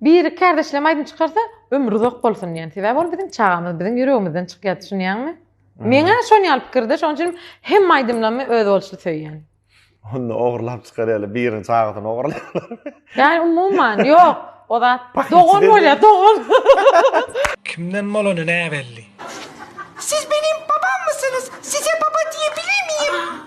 Biri kärdeşlem aýdym çykarsa ömri uzak bolsun diýen. Sebäbi ol biziň çagamyz, biziň ýüregimizden çykýar, düşünýäňmi? Meňä şon ýaly pikirde, şoň üçin hem aýdymlamy özboluşly söýýän. Onda ogurlap çykarýarlar, biriniň çagasyny ogurlaýarlar. Ýani umuman, ýok. O zat dogan bolýar, dogan. Kimden bolany näbelli. Siz benim babammysynyz? Size baba diýebilemiyim?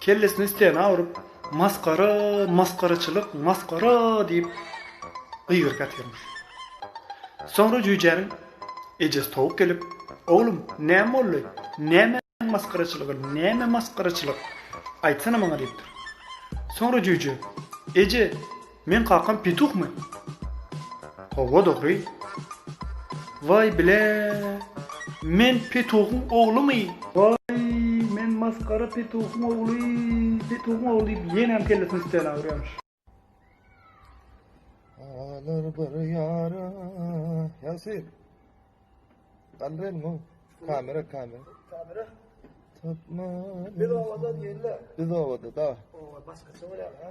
Kellesini stena urup, Masgara, masgaraçylyk, masgara! diýip, gygyryp ýatyrmyş. Soňra jüýjäniň ejesi towuk gelip, Oglum, näme boldy? Näme masgaraçylygy, näme masgaraçylyk? Aýtsana maňa diýipdir. Soňra jüýje, Eje, Meň kakam petuhmy? Howwa dogry. Waý bile. Men petuhyň oglumy? Waý, men masgara petuhyň ogly, petuhyň ogly diýip ýeňňäm kellesini üstüne agyrýarmyş. Alar bir ýara. Ýasir. Galdyr elini goý. Kamera, kamera. Kamera. Tapma. Biz obada diýenler. Biz obada, da. Oba başgaça bolýar, ha?